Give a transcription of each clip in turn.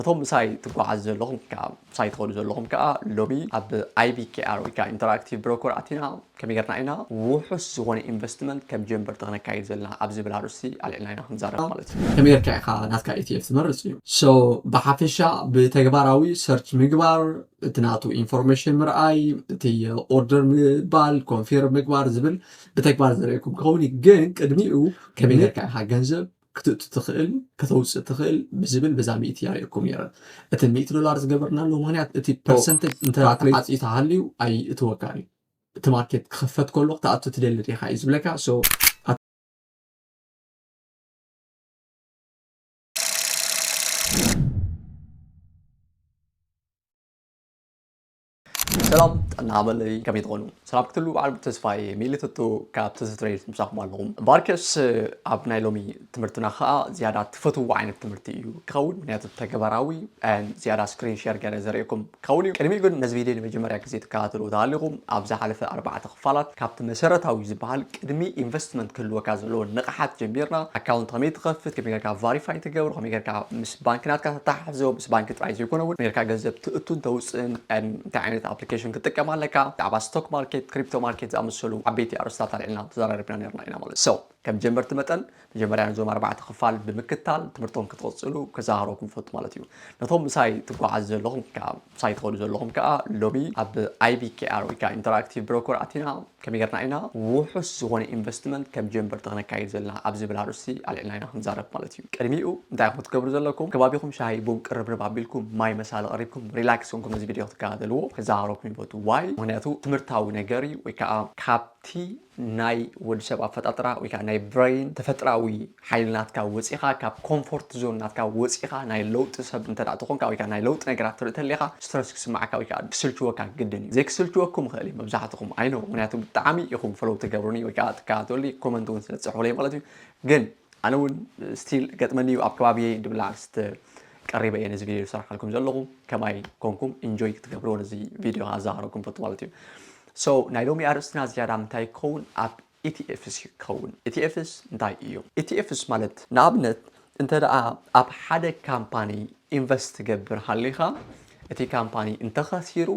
እቶም ምሳይ ትጓዓዙ ዘለኹም ወይ ከኣ ምሳይ ትኸዱ ዘለኹም ከኣ ሎሚ ኣብ IBKR ወይ ከኣ ኢንተራክቲቭ ብሮኮር ኣቲና ከመይ ጌርና ኢና ውሑስ ዝኾነ ኢንቨስትመንት ከም ጀመርቲ ከነካይድ ዘለና ኣብ ዝብል ኣርእስቲ ኣልዒልና ኢና ክንዛረብ ማለት እዩ። ከመይ ጌርካ ኢኻ ናትካ ETF ትመርጽ እዩ። So ብሓፈሻ ብተግባራዊ ሰርች ምግባር፣ እቲ ናቱ ኢንፎርሜሽን ምርኣይ፣ እቲ ኦርደር ምባል፣ ኮንፊርም ምግባር ዝብል ብተግባር ዘርእየኩም ክኸውን እዩ። ግን ቅድሚኡ ከመይ ጌርካ ኢኻ ገንዘብ ክትእቱ ትኽእል ከተውፅእ ትኽእል ብዝብል በዛ ሚእቲ ያርእየኩም ነይረ እቲ ሚእቲ ዶላር ዝገበርናሉ ምክንያት እቲ ፐርሰንተጅ እንተ ተዓፅዩ ተሃልዩ ኣይእትወካን እዩ እቲ ማርኬት ክኽፈት ከሎ ክትኣቱ ትደሊ ዲኻ እዩ ዝብለካ so ሰላም ጥዕና በለይ ከመይ ትኾኑ ሰላም ክትሉ በዓል ተስፋይ ሚሊ ትቱ ካብ ትዝ ትሬድ ምሳኹም ኣለኹም ባርከስ ኣብ ናይ ሎሚ ትምህርትና ከዓ ዝያዳ ትፈትዎ ዓይነት ትምህርቲ እዩ ክኸውን ምክንያቱ ተግባራዊ ዝያዳ ስክሪን ሸር ገረ ዘርእኩም ክኸውን እዩ ቅድሚኡ ግን ነዚ ቪድዮ ንመጀመርያ ግዜ ትከታተሉ ተሃሊኹም ኣብ ዝሓለፈ ኣርባዕተ ክፋላት ካብቲ መሰረታዊ ዝበሃል ቅድሚ ኢንቨስትመንት ክህልወካ ዘለዎ ንቕሓት ጀሚርና ኣካውንት ከመይ ትኸፍት ከመይ ጌርካ ቫሪፋይ ትገብር ከመይ ጌርካ ምስ ባንኪ ናትካ ተተሓሕዞ ምስ ባንኪ ጥራይ ዘይኮነ እውን ኔርካ ገንዘብ ትእቱን ተውፅእን እንታይ ዓይነት ኣፕሊኬሽን ክትጥቀም ኣለካ ብዛዕባ ስቶክ ማርኬት ክሪፕቶ ማርኬት ዝኣመሰሉ ዓበይቲ ኣርእስታት ኣልዒልና ተዘራሪብና ኔርና ኢና ማለት so ከም ጀመርቲ መጠን መጀመርያ ነዞም ኣርባዕተ ክፋል ብምክታል ትምህርቶም ክትቕፅሉ ከዘኻኽረኩም እፈቱ ማለት እዩ ነቶም ምሳይ ትጓዓዙ ዘለኹም ከዓ ሳይትኸዱ ዘለኹም ከኣ ሎሚ ኣብ IBKR ወይ ከኣ ኢንተራክቲቭ ብሮኮር ኣቲና ከመይ ጌርና ኢና ውሑስ ዝኾነ ኢንቨስትመንት ከም ጀምበርቲ ከነካይድ ዘለና ኣብ ዝብል ኣርእስቲ ኣልዒልና ኢና ክንዛረብ ማለት እዩ። ቅድሚኡ እንታይ ኢኹም ክትገብሩ ዘለኩም ከባቢኹም ሻሂ ቡን ቅርብርብ ኣቢልኩም ማይ መሳሊ ቀሪብኩም ሪላክስ ኮንኩም እዚ ቪድዮ ክትከታተልዎ ክዘኻኸረኩም ይፈቱ ዋይ ምኽንያቱ ትምህርታዊ ነገር እዩ ወይ ከኣ ካብቲ ናይ ወዲ ሰብ ኣፈጣጥራ ወይ ከኣ ናይ ብረይን ተፈጥራዊ ሓይሊ ናትካ ወጺኻ ካብ ኮምፎርት ዞን ናትካ ወጺኻ ናይ ለውጢ ሰብ እንተ ተኾንካ ወይ ከኣ ናይ ለውጢ ነገራት ትርኢ ተለኻ ስትረስ ክስምዓካ ወይ ከኣ ክስልችወካ ግድን እዩ ዘይክስልችወኩም ይኽእል እዩ መብዛሕትኹም ኣይ ኖው ምኽንያቱ ብጣዕሚ ኢኹም ፎሎው ትገብሩኒ ወይ ከኣ ትከታተሉኒ ኮመንት እውን ስለ ትጽሕፉለይ ማለት እዩ ግን ኣነ እውን ስቲል ገጥመኒ እዩ ኣብ ከባቢየይ ድብላ ኣርስቲ ቀሪበ እየ ነዚ ቪድዮ ዝሰርሓልኩም ዘለኹ ከማይ ኮንኩም ኢንጆይ ክትገብርዎ ነዚ ቪድዮ ኣዘኻኽረኩም ፈቱ ማለት እዩ So ናይ ሎሚ ኣርእስትና ዝያዳ ምንታይ ክኸውን ኣብ ETFs እዩ ክኸውን። ETFs እንታይ እዮም? ETFs ማለት ንኣብነት እንተ ደኣ ኣብ ሓደ ካምፓኒ ኢንቨስት ትገብር ሃሊኻ እቲ ካምፓኒ እንተ ኸሲሩ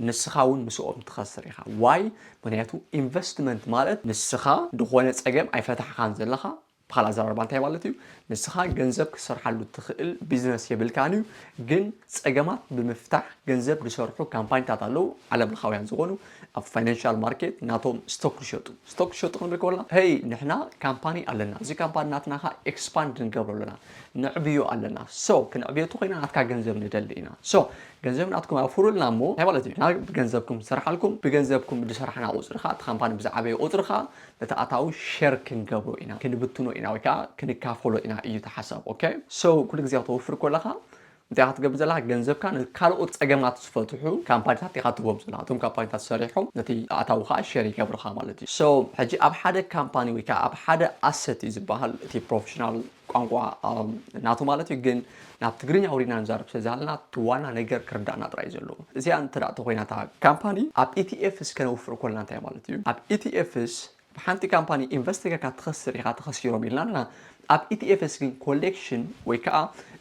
ንስኻ እውን ምስኦም ትኸስር ኢኻ። ዋይ? ምኽንያቱ ኢንቨስትመንት ማለት ንስኻ ዝኾነ ጸገም ኣይፈታሕኻን ዘለኻ ብካልእ ኣዘራርባ እንታይ ማለት እዩ? ንስኻ ገንዘብ ክትሰርሓሉ እትኽእል ቢዝነስ የብልካን እዩ፣ ግን ጸገማት ብምፍታሕ ገንዘብ ዝሰርሑ ካምፓኒታት ኣለዉ፣ ዓለምለኻውያን ዝኾኑ፣ ኣብ ፋይናንሻል ማርኬት ናቶም ስቶክ ዝሸጡ። ስቶክ ዝሸጡ ክንብል ከሎና፣ ሄይ ንሕና ካምፓኒ ኣለና፣ እዚ ካምፓኒ ናትና ከኣ ኤክስፓንድ ንገብሮ ኣለና፣ ነዕብዮ ኣለና፣ ሶ ክንዕብዮ እንተኾይና ናትካ ገንዘብ ንደሊ ኢና፣ ሶ ገንዘብ ናትኩም ኣውፍሩልና እሞ እንታይ ማለት እዩ? ንሕና ብገንዘብኩም ንሰርሓልኩም፣ ብገንዘብኩም ዝሰራሕና ቁጽሪ ከኣ እቲ ካምፓኒ ብዝዓበየ ቁጽሪ ከኣ እቲ ኣታዊ ሸር ክንገብሮ ኢና ክንብትኖ ኢና ወይ ከኣ ክንካፈሎ ኢና እዩ እቲ ሓሳብ ኦከ so ኩሉ ግዜ ክተወፍር ኮለኻ እንታይ ኢኻ ትገብር ዘለኻ ገንዘብካ ንካልኦት ጸገማት ዝፈትሑ ካምፓኒታት ኢኻ ትህቦም ዘለኻ እቶም ካምፓኒታት ሰሪሖም ነቲ ኣታዊ ከኣ ሸር ይገብርኻ ማለት እዩ so ሕጂ ኣብ ሓደ ካምፓኒ ወይ ከኣ ኣብ ሓደ ኣሰት እዩ ዝበሃል እቲ ፕሮፈሽናል ቋንቋ ናቱ ማለት እዩ ግን ናብ ትግርኛ ኣውሪድና ንዛረብ ስለዝሃለና እቲ ዋና ነገር ክርዳእና ጥራይ እዩ ዘለዎ እዚኣ እንተ ተኾይና እታ ካምፓኒ ኣብ ኢቲኤፍስ ከነውፍር ኮለና እንታይ ማለት እዩ ኣብ ኢቲኤፍስ ኣብ ሓንቲ ካምፓኒ ኢንቨስት ጌርካ ትኸስር ኢኻ ተኸሲሮም ኢልና ኣለና ኣብ ኢቲኤፍስ ግን ኮሌክሽን ወይ ከዓ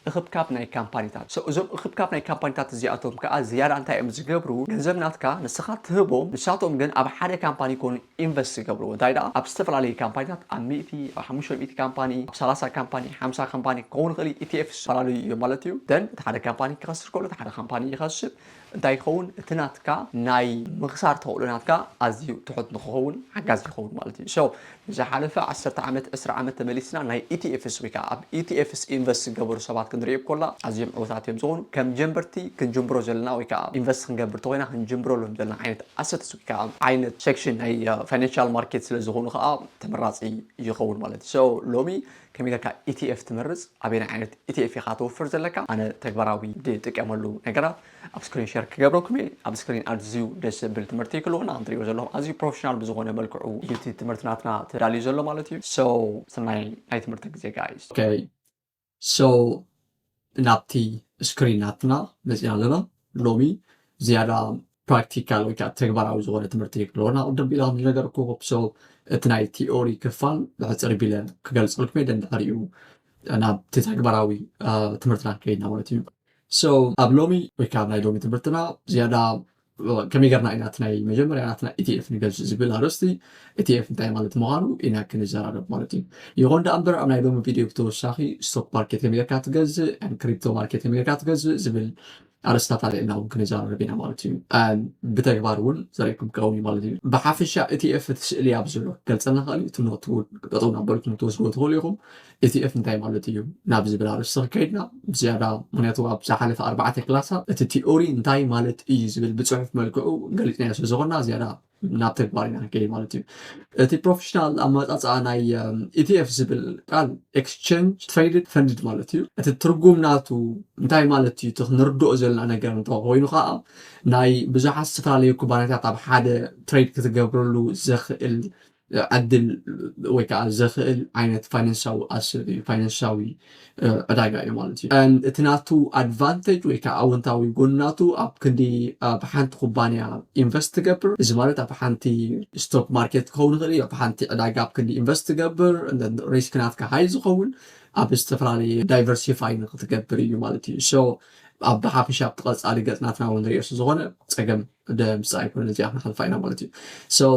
እኽብካብ ናይ ካምፓኒታት ሰው እዞም እኽብካብ ናይ ካምፓኒታት እዚኣቶም ከዓ ዝያዳ እንታይ እዮም ዝገብሩ ገንዘብ ናትካ ንስኻ ትህቦም ንሳቶም ግን ኣብ ሓደ ካምፓኒ ኮኑ ኢንቨስት ዝገብርዎ እንታይ ደኣ ኣብ ዝተፈላለዩ ካምፓኒታት ኣብ ሚእቲ ኣብ ሓሙሽተ ሚእቲ ካምፓኒ ኣብ ሰላሳ ካምፓኒ ሓምሳ ካምፓኒ ክኸውን ይኽእል እዩ ETF ዝተፈላለዩ እዮም ማለት እዩ then እቲ ሓደ ካምፓኒ ክኸስር ከሎ እቲ ሓደ ካምፓኒ ይኸስብ እንታይ ይኸውን እቲ ናትካ ናይ ምኽሳር ተኽእሎ ናትካ ኣዝዩ ትሑት ንኽኸውን ሓጋዚ ይኸውን ማለት እዩ so ንዝሓለፈ ዓሰርተ ዓመት ዕስራ ዓመት ተመሊስና ናይ ETFs ወይ ከኣ ኣብ ETFs ኢንቨስት ዝገበሩ ሰባት ክንርኢ ኮላ ኣዝዮም ዕውታት እዮም ዝኾኑ ከም ጀምበርቲ ክንጅምሮ ዘለና ወይ ከኣ ኢንቨስት ክንገብር ተኾይና ክንጅምረሎም ዘለና ዓይነት ኣሰት ካብ ዓይነት ሴክሽን ናይ ፋይናንሻል ማርኬት ስለ ዝኾኑ ከኣ ተመራጺ ይኸውን ማለት እዩ። ሶ ሎሚ ከመይ ጌርካ ETF ትመርጽ፣ ኣበየናይ ዓይነት ETF ኢኻ ተውፍር ዘለካ፣ ኣነ ተግባራዊ ዝጥቀመሉ ነገራት ኣብ ስክሪን ሸር ክገብረኩም እየ። ኣብ ስክሪን ኣዝዩ ደስ ዘብል ትምህርቲ እዩ ክሉ ከምቲ ትርእይዎ ዘለኹም ኣዝዩ ፕሮፌሽናል ብዝኾነ መልክዑ እዩ እቲ ትምህርቲ ናትና ተዳልዩ ዘሎ ማለት እዩ። ሶ ሰናይ ናይ ትምህርቲ ግዜ ጋይስ። ኦኬ So ናብቲ ስክሪን ናትና መፂና ኣለና ሎሚ ዝያዳ ፕራክቲካል ወይ ከዓ ተግባራዊ ዝኾነ ትምህርቲ ክለወና ቅድም ቢላ ከም ዝነገርኩ ሶ እቲ ናይ ቲኦሪ ክፋል ብሕፅር ቢለ ክገልፀልኩም የደን ድሕሪኡ ናብቲ ተግባራዊ ትምህርትና ከይድና ማለት እዩ ሶ ኣብ ሎሚ ወይ ከዓ ናይ ሎሚ ትምህርትና ዝያዳ ከመይ ጌርና ኢና እቲ ናይ መጀመርያ ናትና ኢቲኤፍ ንገዝእ ዝብል ኣርእስቲ ኢቲኤፍ እንታይ ማለት ምዃኑ ኢና ክንዘራረብ ማለት እዩ። ይኹን ደኣ እምበር ኣብ ናይ ሎሚ ቪድዮ ብተወሳኺ ስቶክ ማርኬት ከመይ ጌርካ ትገዝእ ን ክሪፕቶ ማርኬት ከመይ ጌርካ ትገዝእ ዝብል ኣርእስታት ኣልዒልና እውን ክንዘራረብ ኢና ማለት እዩ። ብተግባር እውን ዘርእየኩም ክኸውን እዩ ማለት እዩ። ብሓፈሻ ኢቲኤፍ እቲ ስእሊ ኣብዚ ዘሎ ክገልጸልና ክእል እዩ። እቲ ኖት እውን ጠጠው እናበልኩም ክትወስድዎ ትኽእሉ ኢኹም። ETF እንታይ ማለት እዩ ናብ ዝብል ኣርእስቲ ክከይድና ብዝያዳ ምክንያቱ ኣብ ዝሓለፈ ኣርባዕተ ክላሳት እቲ ቲኦሪ እንታይ ማለት እዩ ዝብል ብፅሑፍ መልክዑ ገሊፅናዮ ስለዝኮና ዝያዳ ናብ ተግባር ኢና ክንከይድ ማለት እዩ እቲ ፕሮፌሽናል ኣመፃፅኣ ናይ ኢቲኤፍ ዝብል ቃል ኤክስቸንጅ ትሬድድ ፈንድድ ማለት እዩ እቲ ትርጉም ናቱ እንታይ ማለት እዩ እቲ ክንርድኦ ዘለና ነገር እንተ ኮይኑ ከዓ ናይ ብዙሓት ዝተፈላለዩ ኩባንያታት ኣብ ሓደ ትሬድ ክትገብረሉ ዘኽእል ዕድል ወይ ከዓ ዘኽእል ዓይነት ፋይናንሳዊ ኣሰር እዩ፣ ፋይናንሳዊ ዕዳጋ እዩ ማለት እዩ። እቲ ናቱ ኣድቫንተጅ ወይ ከዓ ኣወንታዊ ጎኒ ናቱ ኣብ ክንዲ ኣብ ሓንቲ ኩባንያ ኢንቨስት ትገብር፣ እዚ ማለት ኣብ ሓንቲ ስቶክ ማርኬት ክኸውን ይኽእል እዩ፣ ኣብ ሓንቲ ዕዳጋ ኣብ ክንዲ ኢንቨስት ትገብር፣ ሪስክ ናትካ ሃይ ዝኸውን ኣብ ዝተፈላለየ ዳይቨርሲፋይ ንክትገብር እዩ ማለት እዩ። ሶ ኣብ ብሓፈሻ ኣብቲ ቀፃሊ ገፅ ናትና እውን ንሪኦ ስለዝኾነ ፀገም ድምፂ ኣይኮነን እዚኣ ክንሓልፋ ኢና ማለት እዩ so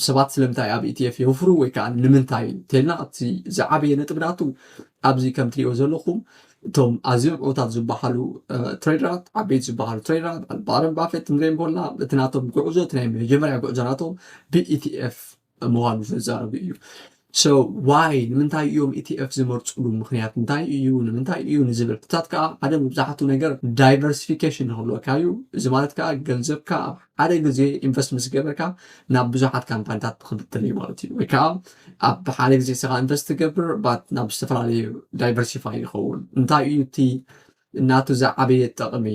ሰባት ስለምንታይ ኣብ ኢቲኤፍ የውፍሩ ወይ ከዓ ንምንታይ እንተልና እቲ ዝዓበየ ነጥቢ ናቱ ኣብዚ ከም ትሪእዎ ዘለኹም እቶም ኣዝዮም ዕውታት ዝበሃሉ ትሬደራት ዓበይቲ ዝበሃሉ ትሬደራት ባረን ባፌት ክንሪኦም ኮና እቲ ናቶም ጉዕዞ እቲ ናይ መጀመርያ ጉዕዞ ናቶም ብኢቲኤፍ ምዃኑ ዘዛረቡ እዩ ሰው ዋይ ንምንታይ እዮም ኢቲኤፍ ዝመርፅሉ ምክንያት እንታይ እዩ ንምንታይ እዩ ንዝብል ሕታት ከዓ ሓደ መብዛሕቱ ነገር ዳይቨርሲፊኬሽን ንክብለካ እዩ እዚ ማለት ከዓ ገንዘብካ ኣብ ሓደ ግዜ ኢንቨስት ምስ ገበርካ ናብ ብዙሓት ካምፓኒታት ንክብትል እዩ ማለት እዩ ወይ ከዓ ኣብ ሓደ ግዜ ስኻ ኢንቨስት ትገብር ባት ናብ ዝተፈላለዩ ዳይቨርሲፋይ ይኸውን እንታይ እዩ እቲ ናቱ ዝዓበየ ጠቕሚ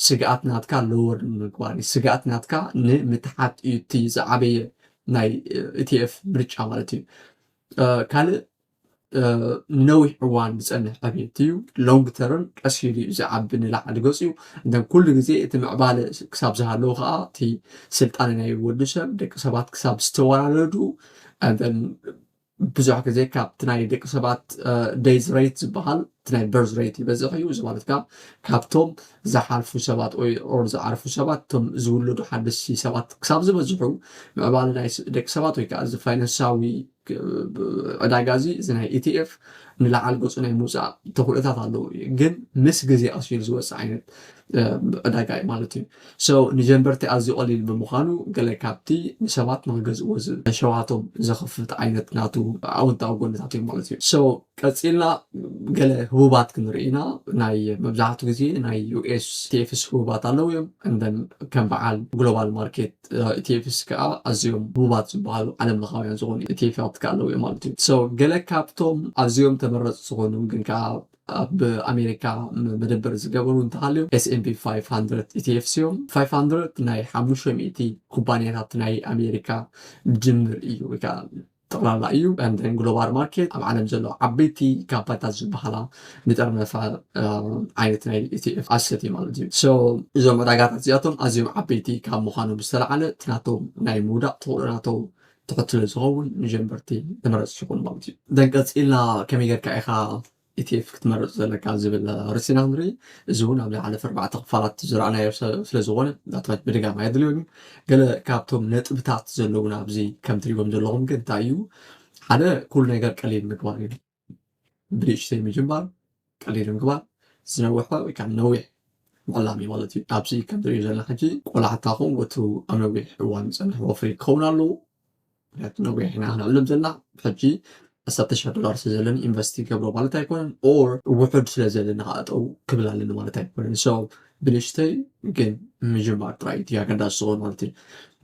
ስግኣት ናትካ ሎወር ንምግባር እዩ ስግኣት ናትካ ንምትሓት እዩ እቲ ዝዓበየ ናይ ኢቲኤፍ ምርጫ ማለት እዩ ካልእ ንነዊሕ እዋን ዝፀንሕ ዕብየት እዩ ሎንግ ተርም ቀስ ኢሉ እዩ ዝዓቢ ንላዕሊ ገፅ እዩ እንተ ኩሉ ግዜ እቲ ምዕባለ ክሳብ ዝሃለዉ ከዓ እቲ ስልጣነ ናይ ወዲ ሰብ ደቂ ሰባት ክሳብ ዝተወላለዱ ብዙሕ ግዜ ካብቲ ናይ ደቂ ሰባት ደይዝ ረይት ዝበሃል እቲ ናይ በርዝ ረይት ይበዝሕ እዩ። እዚ ማለት ከዓ ካብቶም ዝሓልፉ ሰባት ወይ ኦር ዝዓርፉ ሰባት እቶም ዝውለዱ ሓደስቲ ሰባት ክሳብ ዝበዝሑ ምዕባለ ናይ ደቂ ሰባት ወይ ከዓ እዚ ፋይናንሳዊ ዕዳጋ እዚ እዚ ናይ ኢቲኤፍ ንላዕሊ ገፁ ናይ ምውፃእ ተኽእሎታት ኣለዎ ግን ምስ ግዜ ኣስዩር ዝወፅእ ዓይነት ዕዳጋ እዩ ማለት እዩ። So ንጀንበርቲ ኣዝዩ ቀሊል ብምኻኑ ገለ ካብቲ ንሰባት ንኽገዝእዎ ሸውሃቶም ዘኽፍት ዓይነት ናቱ ኣወንታዊ ጎንታት እዮም ማለት እዩ። So ቀጺልና ገለ ህቡባት ክንርኢ ኢና ናይ መብዛሕቱ ግዜ ናይ US ETFs ህቡባት ኣለዉ እዮም and then ከም በዓል Global Market ETFs ከኣ ኣዝዮም ህቡባት ዝበሃሉ ዓለም ለኻውያን ዝኾኑ ETFታት ከኣ ኣለዉ እዮም ማለት እዩ። So ገለ ካብቶም ኣዝዮም ተመረጽቲ ዝኾኑ ግን ከኣ ኣብ ኣሜሪካ መደበር ዝገበሩ እንተሃልዮም ኤስ ኤን ፒ ፋይፍ ሃንድረድ ኢቲኤፍስ እዮም። ፋይፍ ሃንድረድ ናይ ሓሙሽተ ሚእቲ ኩባንያታት ናይ ኣሜሪካ ድምር እዩ ወይ ከዓ ጠቕላላ እዩ። ንተን ግሎባል ማርኬት ኣብ ዓለም ዘለዋ ዓበይቲ ካምፓኒታት ዝበሃላ ንጠርነፋ ዓይነት ናይ ኢቲኤፍ ኣሰት እዩ ማለት እዩ። ሶ እዞም ዕዳጋታት እዚኣቶም ኣዝዮም ዓበይቲ ካብ ምዃኖም ዝተላዕለ እቲ ናቶም ናይ ምውዳቕ ተኽእሎ ናቶም ተኸትሎ ዝኸውን ንጀመርቲ ተመረፅቲ ይኾኑ ማለት እዩ። ደን ቀፂልና ከመይ ጌርካ ኢኻ ኢቲኤፍ ክትመርፅ ዘለካ ዝብል ርእሲ ኢና ንርኢ። እዚ እውን ኣብ ዝሓለፈ ኣርባዕተ ክፋላት ዝረኣናዮ ስለዝኾነ ዳታት ምድጋም ኣየድልዮን እዩ። ገለ ካብቶም ነጥብታት ዘለዉና ኣብዚ ከም ትሪእዎም ዘለኹም ግን እንታይ እዩ ሓደ ኩሉ ነገር ቀሊል ምግባር እዩ። ብንእሽተይ ምጅማር ቀሊል ምግባር ዝነውሐ ወይ ከዓ ነዊሕ ምዕላም እዩ ማለት እዩ ኣብዚ ከም ትሪኡ ዘለና ሕጂ ቆላሕታኹም ወትሩ ኣብ ነዊሕ እዋን ዝፀንሕ ወፍሪ ክኸውን ኣለዎ ምክንያቱ ነዊሕ ኢና ክንዕልም ዘለና ሕጂ ዓሰርተ ሽሕ ዶላር ስለ ዘለኒ ኢንቨስት ይገብሮ ማለት ኣይኮነን ኦር ውሑድ ስለ ዘለና ከዓ ጠው ክብል ኣለኒ ማለት ኣይኮነን ሶ ብንሽተይ ግን ምጅማር ጥራይ እቲ ኣገዳሲ ዝኸውን ማለት እዩ።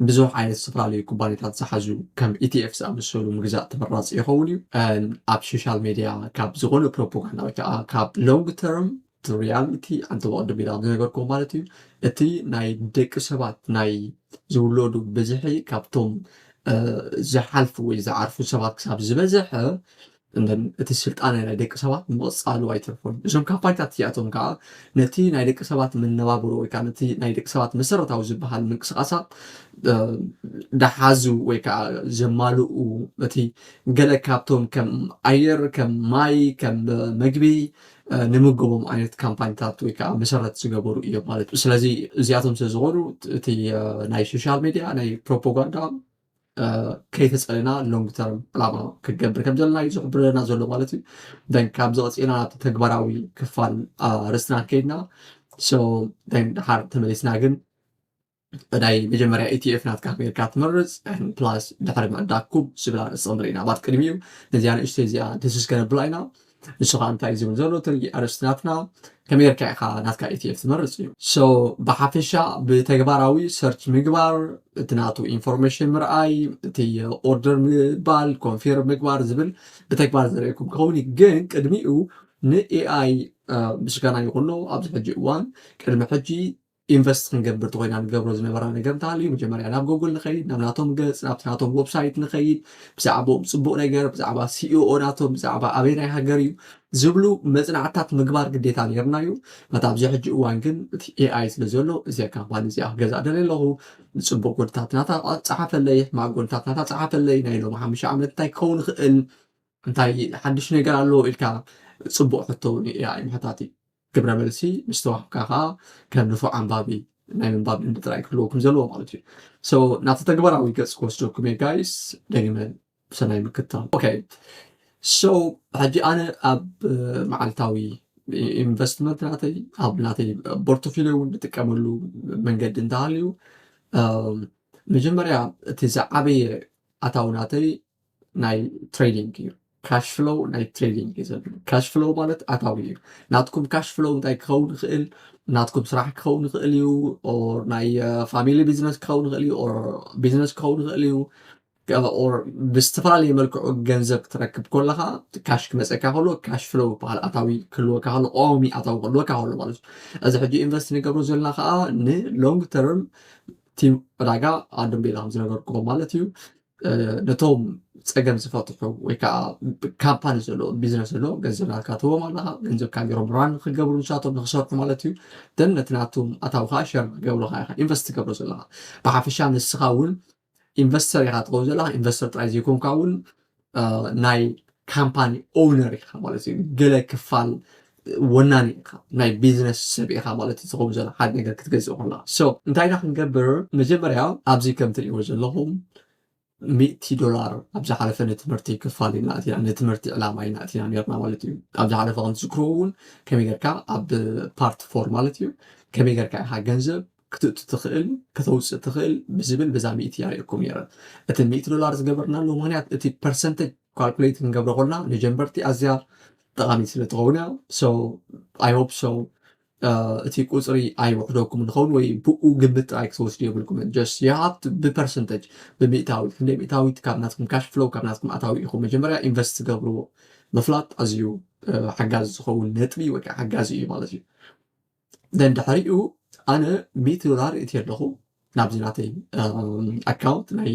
ብዙሕ ዓይነት ዝተፈላለዩ ኩባንያታት ዝሓዙ ከም ETF ዝኣመሰሉ ምግዛእ ተመራጺ ይኸውን እዩ። ኣብ ሶሻል ሜድያ ካብ ዝኾነ ፕሮፖጋንዳ ወይ ከዓ ካብ ሎንግ ተርም ሪያሊቲ ኣንተ ብቐደም ኢላ ዝነገርኩዎ ማለት እዩ እቲ ናይ ደቂ ሰባት ናይ ዝውለዱ ብዝሒ ካብቶም ዝሓልፉ ወይ ዝዓርፉ ሰባት ክሳብ ዝበዝሐ እቲ ስልጣነ ናይ ደቂ ሰባት ምቕጻሉ ኣይተርፎን። እዞም ካምፓኒታት እዚኣቶም ከኣ ነቲ ናይ ደቂ ሰባት መነባብሮ ወይ ከኣ ነቲ ናይ ደቂ ሰባት መሰረታዊ ዝበሃል ምንቅስቓሳት ዝሓዙ ወይ ከኣ ዘማልኡ እቲ ገለ ካብቶም ከም ኣየር፣ ከም ማይ፣ ከም መግቢ ንምገቦም ዓይነት ካምፓኒታት ወይ ከኣ መሰረት ዝገበሩ እዮም ማለት እዩ። ስለዚ እዚኣቶም ስለ ዝኾኑ እቲ ናይ ሶሻል ሜድያ ናይ ፕሮፖጋንዳ ከይተፀለና ሎንግ ተርም ዕላማ ክንገብር ከም ዘለና እዩ ዝሕብረና ዘሎ ማለት እዩ ደን ካብዚ ቀፂልና ናብቲ ተግባራዊ ክፋል ርስትና ከይድና ድሓር ተመሊስና ግን ናይ መጀመርያ ኢቲኤፍ ናትካ ሜርካ ትመርፅ ፕላስ ድሕሪ ምዕዳግ ኩብ ዝብላ ንፅምር ኢና ባት ቅድሚ እዩ ነዚኣ ንእሽተይ እዚኣ ድስስ ከነብላ ኢና ንስኻ እንታይ ዝብል ዘሎ ትርኢ ኣርእስቲ ናትና ከመይ ጌርካ ኢኻ ናትካ ኢቲኤፍ ትመርጽ እዩ so ብሓፈሻ ብተግባራዊ ሰርች ምግባር እቲ ናቱ ኢንፎርሜሽን ምርኣይ እቲ ኦርደር ምባል ኮንፊርም ምግባር ዝብል ብተግባር ዘርእየኩም ክኸውን እዩ ግን ቅድሚኡ ንኤኣይ ምስጋና ይኹኖ ኣብዚ ሕጂ እዋን ቅድሚ ሕጂ ኢንቨስት ክንገብር ተኾይና ንገብሮ ዝነበራ ነገር እንተሃልዩ መጀመርያ ናብ ጎግል ንኸይድ ናብ ናቶም ገጽ ናብቲ ናቶም ወብሳይት ንኸይድ ብዛዕባኦም ጽቡቕ ነገር ብዛዕባ ሲኢኦ ናቶም ብዛዕባ ኣበይ ናይ ሃገር እዩ ዝብሉ መጽናዕትታት ምግባር ግዴታ ነርና እዩ በታ ኣብዚ ሕጂ እዋን ግን እቲ ኤኣይ ስለ ዘሎ እዚ ካምፓኒ እዚኣ ክገዛእ ደለ ኣለኹ ንጽቡቕ ጎድታት ናታ ጸሓፈለይ ሕማቅ ጎድታት ናታ ጸሓፈለይ ናይ ሎም ሓሙሽተ ዓመት እንታይ ክኸውን ይኽእል እንታይ ሓድሽ ነገር ኣለዎ ኢልካ ጽቡቕ ሕቶ እውን እዩ ኤኣይ ምሕታት እዩ። ግብረ መልሲ ምስ ተዋህብካ ከኣ ከም ንፉዕ ኣንባቢ ናይ ምንባብ ልምዲ ጥራይ ክህልወኩም ዘለዎ ማለት እዩ። ሶ ናብቲ ተግባራዊ ገጽ ክወስደኩም እየ ጋይስ ደጊመ ብሰናይ ምክትታል። ኦኬ ሶ ሕጂ ኣነ ኣብ መዓልታዊ ኢንቨስትመንት ናተይ ኣብ ናተይ ቦርቶፊልዮ እውን ንጥቀመሉ መንገዲ እንተሃልዩ መጀመርያ እቲ ዝዓበየ ኣታዊ ናተይ ናይ ትሬዲንግ እዩ ካሽ ፍሎው ናይ ትሬዲንግ እዩ ዘድሊ ካሽ ፍሎው ማለት ኣታዊ እዩ ናትኩም ካሽ ፍሎው እንታይ ክኸውን ይኽእል ናትኩም ስራሕ ክኸውን ይኽእል እዩ ኦር ናይ ፋሚሊ ቢዝነስ ክኸውን ይኽእል እዩ ኦር ቢዝነስ ክኸውን ይኽእል እዩ ኦር ብዝተፈላለየ መልክዑ ገንዘብ ክትረክብ ከለካ ካሽ ክመፀካ ከሎ ካሽ ፍሎው ይበሃል ኣታዊ ክህልወካ ከሎ ቀዋሚ ኣታዊ ክህልወካ ከሎ ማለት እዩ እዚ ሕጂ ኢንቨስት ንገብሮ ዘለና ከዓ ንሎንግ ተርም እቲ ዕዳጋ ኣድምቤላ ከም ዝነገርኩዎ ማለት እዩ ነቶም ፀገም ዝፈትሑ ወይ ከዓ ካምፓኒ ዘለዎ ቢዝነስ ዘለዎ ገንዘብ ናትካ ትህቦም ኣለካ ገንዘብ ካገሮም ራን ክገብሩ ንሳቶም ንክሰርሑ ማለት እዩ ደን ነቲ ናቶም ኣታዊ ከዓ ሸር ክገብሩካ ኢካ ኢንቨስት ትገብሮ ዘለካ ብሓፈሻ ንስካ እውን ኢንቨስተር ኢካ ትኸውን ዘለካ ኢንቨስተር ጥራይ ዘይኮንካ እውን ናይ ካምፓኒ ኦውነር ኢካ ማለት እዩ ገለ ክፋል ወናኒ ኢኻ ናይ ቢዝነስ ሰብ ኢኻ ማለት እዩ ዝኸውን ዘሎ ሓደ ነገር ክትገዝእ ከለኻ so እንታይ ኢና ክንገብር መጀመርያ ኣብዚ ከም ትሪእዎ ዘለኹም ሚእቲ ዶላር ኣብ ዝሓለፈ ንትምህርቲ ክፋል ኢና ኣቲና ንትምህርቲ ዕላማ ኢና ኣቲና ነርና ማለት እዩ ኣብ ዝሓለፈ ከም ትዝክርዎ እውን ከመይ ጌርካ ኣብ ፓርት ፎር ማለት እዩ ከመይ ጌርካ ኢኻ ገንዘብ ክትእቱ ትኽእል ከተውፅእ ትኽእል ብዝብል በዛ ሚእቲ ያርእኩም ነይረ እቲ ሚእቲ ዶላር ዝገበርናሉ ምክንያት እቲ ፐርሰንተጅ ካልኩሌት ክንገብሮ ኮልና ንጀንበርቲ ኣዝያ ጠቃሚት ስለ ትኸውን እያ ሶ ኣይ ሆፕ ሶ እቲ ቁፅሪ ኣይውሕደኩም ንኸውን ወይ ብኡ ግምት ጥራይ ክትወስዱ የብልኩምን ጀስት የሃብት ብፐርሰንተጅ ብምእታዊ ክንደይ ምእታዊት ካብ ናትኩም ካሽ ፍሎው ካብ ናትኩም ኣታዊ ኢኹም መጀመርያ ኢንቨስት ትገብርዎ ምፍላጥ ኣዝዩ ሓጋዚ ዝኸውን ነጥቢ ወይ ከዓ ሓጋዚ እዩ ማለት እዩ ደን ድሕሪኡ ኣነ ሚእቲ ዶላር እቲ ኣለኹ ናብዚ ናተይ ኣካውንት ናይ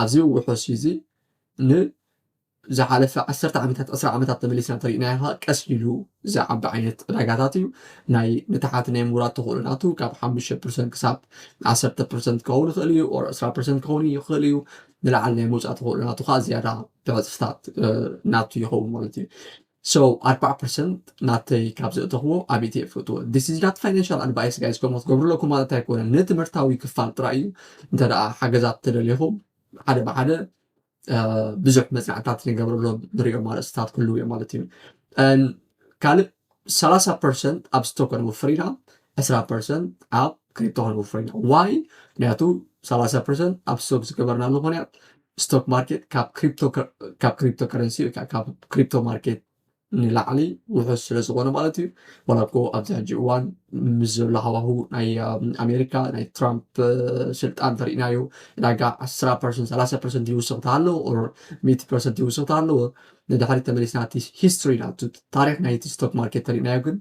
ኣብዚ ውሑስ እዚ ን ዝሓለፈ ዓሰርተ ዓመታት ዕስራ ዓመታት ተመሊስና እንተሪእናዮ ከዓ ቀስ ኢሉ ዝዓቢ ዓይነት ዕዳጋታት እዩ ናይ ንታሓት ናይ ምውራድ ተኽእሎ ናቱ ካብ ሓሙሽተ ፐርሰንት ክሳብ ዓሰርተ ፐርሰንት ክኸውን ይኽእል እዩ ኦር ዕስራ ፐርሰንት ክኸውን ይኽእል እዩ ንላዕሊ ናይ ምውፃእ ተኽእሎ ናቱ ከዓ ዝያዳ ብዕፅፍታት ናቱ ይኸውን ማለት እዩ So ኣርብዓ ፐርሰንት ናተይ ካብ ዘእተኽዎ ኣቤት እየ እፈትዎ this is not financial advice guys ከምኡ ክትገብሩ ኣለኩም ማለት ኣይኮነን ንትምህርታዊ ክፋል ጥራይ እዩ እንተ ደኣ ሓገዛት ተደሊኹም ሓደ ብሓደ ብዙሕ መጽናዕትታት ንገብረሎም ንሪኦም ኣርእስትታት ክህልው እዮም ማለት እዩ ካልእ 30 ፐርሰንት ኣብ ስቶክ ክንወፍር ኢና 20 ፐርሰንት ኣብ ክሪፕቶ ክንወፍር ኢና ዋይ ምክንያቱ 30 ፐርሰንት ኣብ ስቶክ ዝገበርናሉ ምክንያት ስቶክ ማርኬት ካብ ክሪፕቶ ካብ ክሪፕቶ ከረንሲ ወይ ከዓ ካብ ክሪፕቶ ማርኬት ንላዕሊ ውሑስ ስለ ዝኾነ ማለት እዩ ዋላ እኮ ኣብዚ ሕጂ እዋን ምስ ዘሎ ሃዋሁ ናይ ኣሜሪካ ናይ ትራምፕ ስልጣን ተርእናዮ ዕዳጋ 1 ፐርሰንት 3 ፐርሰንት ይውስኽ ተሃለዎ ኦር 100 ፐርሰንት ይውስኽ ተሃለዎ ንድሕሪ ተመሊስና እቲ ሂስትሪ ናቱ ታሪክ ናይቲ ስቶክ ማርኬት ተርእናዮ ግን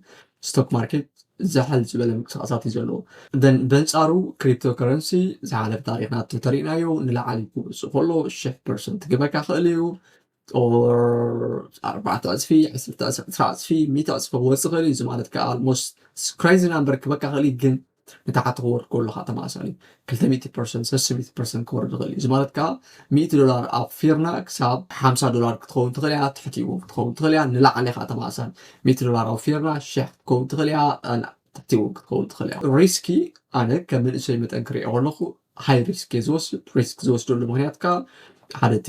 ስቶክ ማርኬት ዛሕል ዝበለ ምንቅስቓሳት እዩ ዘለዎ። then በንጻሩ ክሪፕቶ ከረንሲ ዝሓለፈ ታሪኽ ናቱ ተሪእናዮ ንላዕሊ ክወጽእ ከሎ ሽሕ ፐርሰንት ክበካ ይኽእል እዩ or ኣርባዕተ ዕጽፊ ዕስርተ ዕስራ ዕስራ ዕጽፊ ሚእቲ ዕጽፊ ክወጽእ ይኽእል እዩ እዚ ማለት ከኣ almost crazy number ክበካ ይኽእል እዩ ግን ንታሕቲ ክወርድ ከሎ ከኣ ተመሳሳሊ እዩ። ክልተ ሚእቲ ፐርሰንት፣ ሰስን ሚእቲ ፐርሰንት ክወርድ ይኽእል እዩ። እዚ ማለት ከኣ ሚእቲ ዶላር ኣውፊርና ክሳብ ሓምሳ ዶላር ክትኸውን ትኽእል እያ፣ ትሕቲ እውን ክትኸውን ትኽእል እያ፣ ንላዕሊ ከኣ ተመሳሳሊ ሚእቲ ዶላር ኣውፊርና ሽሕ ክትከውን ትኽእል እያ፣ ትሕቲ እውን ክትከውን ትኽእል እያ። ሪስኪ ኣነ ከም መንእሰይ መጠን ክሪኦ ከለኹ ሃይ ሪስክ እየ ዝወስድ፣ ሪስክ ዝወስደሉ ምኽንያት ከኣ ሓደ እቲ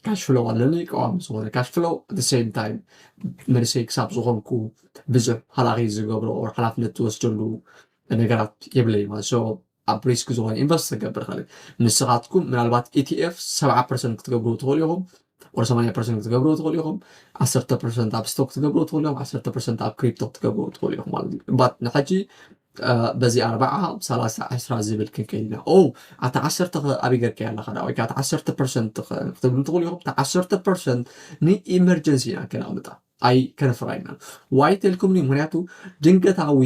ካሽ ፍሎው ኣለኒ ቀዋሚ ዝኾነ ካሽ ፍሎው ኣት ሴም ታይም መንእሰይ ክሳብ ዝኾንኩ ብዙሕ ሃላኺ ዝገብሮ ኦር ሓላፍነት ዝወስደሉ ነገራት የብለይ ማለት ሶ ኣብ ሪስክ ዝኾነ ኢንቨስት ዝገብር ኸእል ንስኻትኩም ምናልባት ኢቲኤፍ ሰብዓ ፐርሰንት ክትገብሩ ትኽእሉ ኢኹም ኦር ሰማንያ ፐርሰንት ክትገብሩ ትኽእሉ ኢኹም ዓሰርተ ፐርሰንት ኣብ ስቶክ ክትገብሩ ትኽእሉ ኢኹም ዓሰርተ ፐርሰንት ኣብ ክሪፕቶ ክትገብሩ ትኽእሉ ኢኹም ማለት እዩ ባት ንሐጂ በዚ ኣርባዓ ሰላሳ ዕስራ ዝብል ክንከይድ ኢና ኦ ኣቲ ዓሰርተ ከ ኣበይ ገርካያ ኣለካ ዳ ወይ ከዓ እቲ ዓሰርተ ፐርሰንት ክትብሉ ትኽእሉ ኢኹም እቲ ዓሰርተ ፐርሰንት ንኢመርጀንሲ ኢና ከነቕምጣ ኣይ ከነፍራ ኢና ዋይ ተልኩምኒ ምክንያቱ ድንገታዊ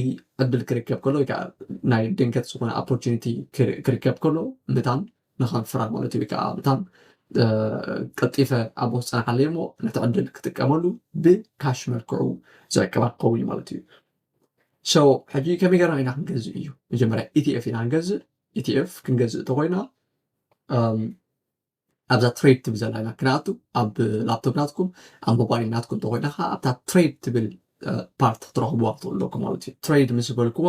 ዕድል ክርከብ ከሎ ወይ ከዓ ናይ ድንገት ዝኾነ ኦፖርቹኒቲ ክርከብ ከሎ ምታን ንኸንፍራ ማለት እዩ ወይ ከዓ ምታን ቀልጢፈ ኣብ ውስጥ ፅናሓለይ እሞ ነቲ ዕድል ክጥቀመሉ ብካሽ መልክዑ ዝዕቅባ ክኸውን ማለት እዩ ሶ ሕጂ ከመይ ገርና ኢና ክንገዝእ እዩ መጀመርያ ኢቲኤፍ ኢና ክንገዝእ ኢቲኤፍ ክንገዝእ እንተኮይና ኣብዛ ትሬድ ትብል ዘላ ኢና ክንኣቱ ኣብ ላፕቶፕ ናትኩም ኣብ ሞባይል ናትኩም እንተኮይና ከዓ ኣብታ ትሬድ ትብል ፓርት ትረኽብዋ ትኽእሉ ኣለኩም ማለት እዩ ትሬድ ምስ በልክዋ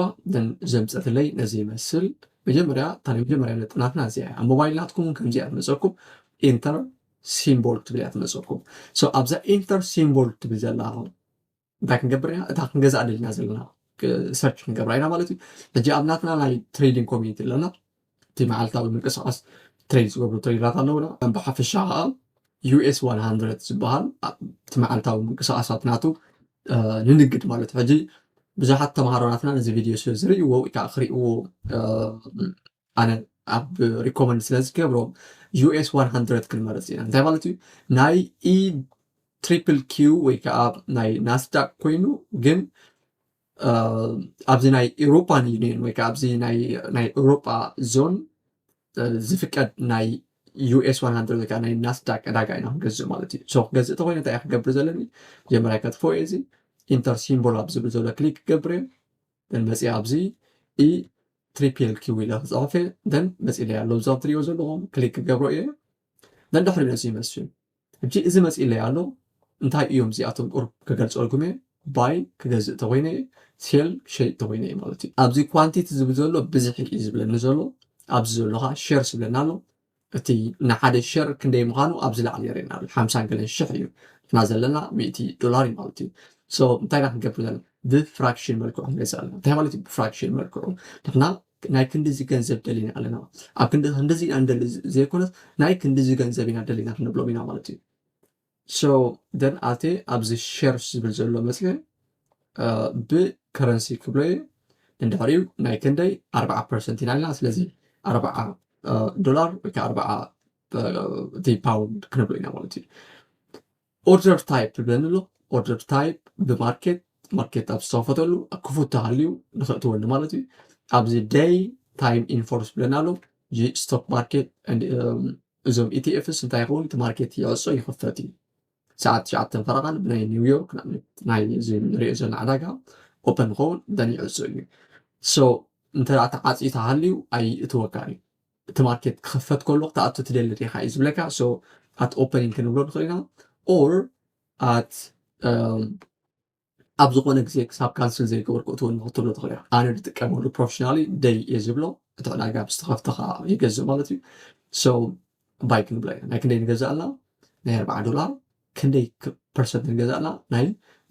ዘምፀትለይ ነዚ ይመስል መጀመርያ እታ ናይ መጀመርያ ነጥናትና እዚኣ እያ ኣብ ሞባይል ናትኩም ከምዚኣ ትመፀኩም ኢንተር ሲምቦል ትብል እያ ትመፀኩም ኣብዛ ኢንተር ሲምቦል ትብል ዘላ እንታይ ክንገብር ኢና እታ ክንገዛእ ደሊና ዘለና ሰርች ክንገብራ ኢና ማለት እዩ ሕጂ ኣብ ናትና ናይ ትሬዲንግ ኮሚኒቲ ኣለና እቲ መዓልታዊ ምንቅስቃስ ትሬድ ዝገብሩ ትሬደራት ኣለውና ብሓፈሻ ከዓ ዩኤስ 100 ዝበሃል እቲ መዓልታዊ ምንቅስቃሳት ናቱ ንንግድ ማለት ሕጂ ብዙሓት ተምሃሮናትና ነዚ ቪድዮ ስለ ዝርእይዎ ወይ ከዓ ክርእይዎ ኣነ ኣብ ሪኮመንድ ስለ ዝገብሮ ዩኤስ 100 ክንመርፅ ኢና እንታይ ማለት እዩ ናይ ኢ ትሪፕል ኪው ወይ ከዓ ናይ ናስዳቅ ኮይኑ ግን ኣብዚ ናይ ኤሮፓን ዩኒየን ወይ ከዓ ኣብዚ ናይ ኤሮፓ ዞን ዝፍቀድ ናይ ዩኤስ 100 ወይ ከዓ ናይ ናስዳቅ ዕዳጋ ኢና ክንገዝእ ማለት እዩ ሶ ክገዝእ ተኮይነ እንታይ ክገብር ዘለኒ መጀመርያ ከጥፎ እየ እዚ ኢንተር ሲምቦል ኣብ ዝብል ዘሎ ክሊክ ክገብር እየ መፅኣ ኣብዚ ኢ ትሪፕል ኪው ኢለ ክፅሕፍ እየ ደን መፅኢለይ ኣሎ እዛ ትሪኦ ዘለኹም ክሊክ ክገብሮ እየ ደን ድሕሪ ነዚ ይመስል ሕጂ እዚ መፅኢለይ ኣሎ እንታይ እዮም እዚኣቶም ቁርብ ክገልፀልኩም እየ ባይ ክገዝእ ተኮይነ እየ ሴል ክሸይጥ ተኮይነ እየ ማለት እዩ ኣብዚ ኳንቲቲ ዝብል ዘሎ ብዝሒ እዩ ዝብለኒ ዘሎ ኣብዚ ዘሎ ከዓ ሸር ዝብለና ኣሎ እቲ ንሓደ ሸር ክንደይ ምኻኑ ኣብዚ ላዕሊ የርእየና ኣሎ ሓምሳን ገለን ሽሕ እዩ ንሕና ዘለና ሚእቲ ዶላር እዩ ማለት እዩ ሶ እንታይ ኢና ክንገብር ዘለና ብፍራክሽን መልክዑ ክንገዝእ ኣለና እንታይ ማለት እዩ ብፍራክሽን መልክዑ ንሕና ናይ ክንዲዚ ገንዘብ ደሊና ኣለና ኣብ ክንዲ ክንዲዚ ኢና ንደሊ ዘይኮነስ ናይ ክንዲዚ ገንዘብ ኢና ደሊና ክንብሎም ኢና ማለት እዩ So then ኣትየ ኣብዚ ሸርስ ዝብል ዘሎ መፅየ ብከረንሲ ክብሎ እየ እንድሕሪኡ ናይ ክንደይ ኣርባዓ ፐርሰንት ኢና ኣለና ስለዚ ኣርባዓ ዶላር ወይ ከዓ ኣርባዓ እቲ ፓውንድ ክንብሎ ኢና ማለት እዩ ኦርደር ታይፕ ብለንሎ ኦርደር ታይፕ ብማርኬት ማርኬት ኣብ ዝተኸፈተሉ ክፉት ተሃልዩ ንክእትወሉ ማለት እዩ ኣብዚ ደይ ታይም ኢንፎርስ ብለና ኣሎ ስቶክ ማርኬት እዞም ኢቲኤፍስ እንታይ ይኸውን እቲ ማርኬት ይዕጾ ይኽፈት እዩ ሰዓት ትሽዓተን ፈረቓን ብናይ ኒውዮርክ ንኣብነት ናይ እዚ ንሪኦ ዘለና ዕዳጋ ኦፐን ይኸውን ደን ይዕጾ እዩ ሶ እንተ ተዓፅዩ ተሃልዩ ኣይእትወካን እዩ እቲ ማርኬት ክኽፈት ከሎ ክትኣቱ ትደሊ ዲኻ እዩ ዝብለካ ሶ ኣት ኦፐኒንግ ክንብሎ ንኽእል ኢና ኦር ኣት ኣብ ዝኾነ ግዜ ክሳብ ካንስል ዘይገበር ክእትው ኣለኹ ትብሎ ትኽእል ኢኻ። ኣነ ዝጥቀመሉ ፕሮፌሽናሊ ደይ እየ ዝብሎ እቲ ዕዳጋ ምስ ተኸፍተ ከዓ ይገዝእ ማለት እዩ። ሶ ባይ ክንብላ ኢና ናይ ክንደይ ንገዛእ ኣላ ናይ ኣርብዓ ዶላር ክንደይ ፐርሰንት ንገዛእ ኣላ ናይ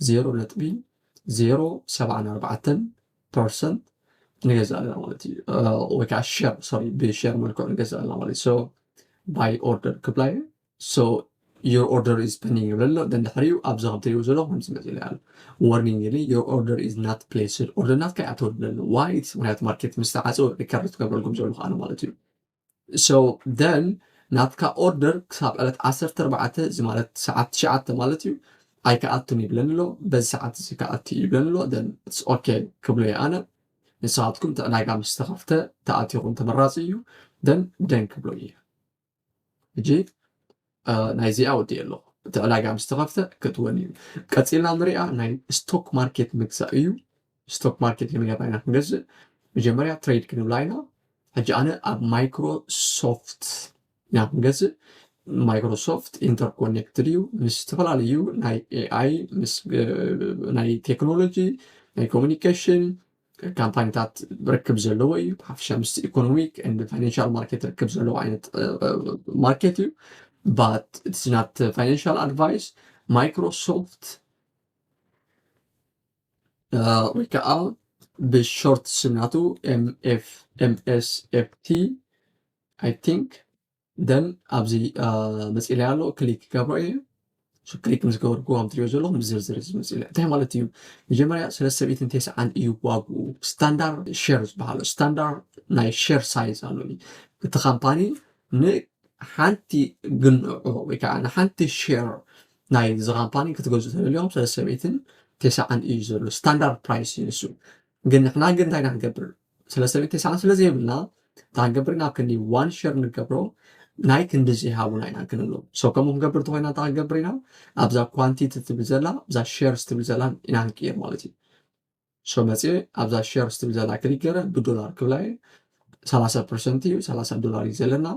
ዜሮ ነጥቢ ዜሮ ሰብዓን ኣርባዕተን ፐርሰንት ንገዛእ ኣለና ማለት እዩ ወይ ከዓ ሸር ሶሪ ብሸር መልክዑ ንገዛእ ኣለና ማለት እዩ። ሶ ባይ ኦርደር ክብላ እየ so your order is pending ይብል ኣሎ ግን ድሕሪኡ ኣብዚ ከም ትሪእዎ ዘለኹም ከምዚ መፂኡለይ ኣሎ warning ይብል your order is not placed order ናትካ ኣይኣተወሉ ኣሎ why ምክንያቱ ማርኬት ምስ ተዓፀወ ሪከርድ ትገብረልኩም ዘሎ ከኣነ ማለት እዩ so then ናትካ ኦርደር ክሳብ ዕለት 14 እዚ ማለት ሰዓት ትሽዓተ ማለት እዩ ኣይከኣቱን ይብለኒ ኣሎ በዚ ሰዓት እዚ ከኣቱ እዩ ይብለኒ ኣሎ ደን ኦኬ ክብሎ እየ ኣነ ንስኻትኩም እቲ ዕዳጋ ምስ ተኸፍተ ተኣቲኹም ተመራፂ እዩ ደን ደን ክብሎ እየ ሕጂ ናይዚኣ ወዲኤ ኣለኹ እቲ ዕዳጋ ምስ ተኸፍተ ከእትወን እዩ ቀፂልና ንሪኣ ናይ ስቶክ ማርኬት ምግዛእ እዩ ስቶክ ማርኬት ክንገባ ኢና ክንገዝእ መጀመርያ ትሬድ ክንብላ ኢና ሕጂ ኣነ ኣብ ማይክሮሶፍት ኢና ክንገዝእ ማይክሮሶፍት ኢንተርኮኔክትድ እዩ ምስ ዝተፈላለዩ ናይ ኤኣይ ምስ ናይ ቴክኖሎጂ ናይ ኮሚኒኬሽን ካምፓኒታት ርክብ ዘለዎ እዩ ብሓፈሻ ምስ ኢኮኖሚክ ን ፋይናንሻል ማርኬት ርክብ ዘለዎ ዓይነት ማርኬት እዩ but it is not uh, financial advice ማይክሮሶፍት ወይ ከዓ ብሾርት ስናቱ ኤምኤፍኤምኤስኤፍቲ ኣይ ቲንክ ደን ኣብዚ መፅኢለይ ኣሎ ክሊክ ክገብሮ እየ ክሊክ ምስ ገበርኩ ከም ትሪኦ ዘለኹም ዝርዝር እዚ መፅኢለ እንታይ ማለት እዩ መጀመርያ ስለ ሰብኢትን ቴስዓን እዩ ዋግኡ ስታንዳርድ ሼር ዝበሃሎ ስታንዳርድ ናይ ሼር ሳይዝ ኣሎ እቲ ካምፓኒ ንሓንቲ ግንዖ ወይ ከዓ ንሓንቲ ሼር ናይ እዚ ካምፓኒ ክትገዝኡ ተደልዮም ስለ ሰብኢትን ቴስዓን እዩ ዘሎ ስታንዳርድ ፕራይስ እዩ ንሱ ግን ንሕና ግን እንታይ ኢና ክንገብር ስለ ሰበይቲ ሰዓት ስለ ዘይብልና እታ ክንገብር ናብ ክንዲ ዋን ሸር ንገብሮ ናይ ክንዲ ዘይሃቡና ኢና ክንብሎ ሰው ከምኡ ክንገብር ተኮይና እታ ክንገብር ኢና ኣብዛ ኳንቲቲ ትብል ዘላ እዛ ሸርስ ትብል ዘላ ኢና ክንቅይር ማለት እዩ ሰው መፅኤ ኣብዛ ሸርስ ትብል ዘላ ክሊክ ገረ ብዶላር ክብላ እዩ 30 ፐርሰንት እዩ 30 ዶላር እዩ ዘለና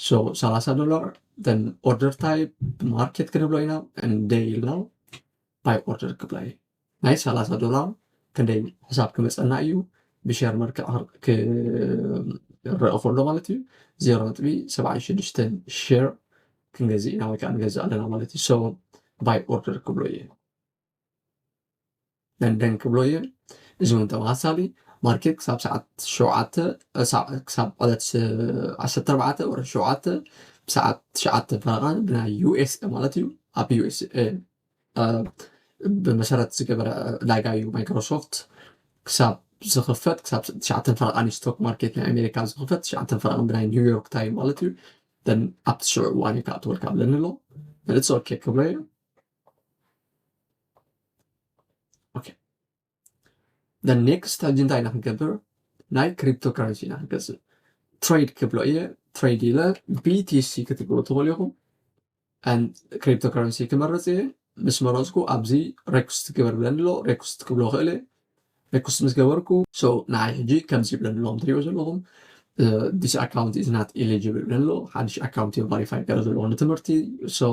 ሶ 30 ዶላር ን ኦርደር ታይፕ ማርኬት ክንብሎ ኢና ንደይ ኢልና ባይ ኦርደር ክብላ እዩ ናይ ሰላሳ ዶላር ክንደይ ሕሳብ ክመፀና እዩ ብሸር መልክዕ ክረአ ከሎ ማለት እዩ ዜሮ ነጥቢ ሰብዓን ሽዱሽተን ሸር ክንገዝእ ኢና ወይ ከዓ ንገዝእ ኣለና ማለት እዩ ሰው ባይ ኦርደር ክብሎ እየ ደንደን ክብሎ እየ እዚ እውን ተመሳሳሊ ማርኬት ክሳብ ሰዓት ሸውዓተ ክሳብ ዕለት ዓሰርተ ኣርባዕተ ወረ ሸውዓተ ብሰዓት ትሽዓተ ፈረቓ ብናይ ዩኤስኤ ማለት እዩ ኣብ ዩኤስኤ ብመሰረት ዝገበረ ዕዳጋ እዩ ማይክሮሶፍት ክሳብ ዝኽፈት ክሳብ ትሽዓተን ፈረቓን እዩ ስቶክ ማርኬት ናይ ኣሜሪካ ዝኽፈት ትሽዓተን ፈረቓን ብናይ ኒውዮርክ ታይም ማለት እዩ ደን ኣብቲ ሽዑ እዋን እዩ ክኣትወልካ ብለኒ ኣሎ ንእፀወኬ ክብሎ እዩ the next ሕጂ እንታይ ኢና ክንገብር ናይ ክሪፕቶ ካረንሲ ኢና ክንገዝእ ትሬድ ክብሎ እየ ትሬድ ኢለ ቢቲሲ ክትብሉ ትኽእሉ ኢኹም ክሪፕቶ ካረንሲ ክመርፅ እየ ምስ መረፅኩ ኣብዚ ሬኩስት ግበር ብለኒ ኣሎ ሬኩስት ክብሎ ክእል እየ ሬኩስት ምስ ገበርኩ ሶ ንዓይ ሕጂ ከምዚ ይብለኒ ኣለዎም ትሪኦ ዘለኹም ዲስ ኣካውንት ኢዝ ናት ኢሊጅብል ብለኒ ኣሎ ሓድሽ ኣካውንት እዮም ቫሪፋይ ገረ ዘለኹ ንትምህርቲ ሶ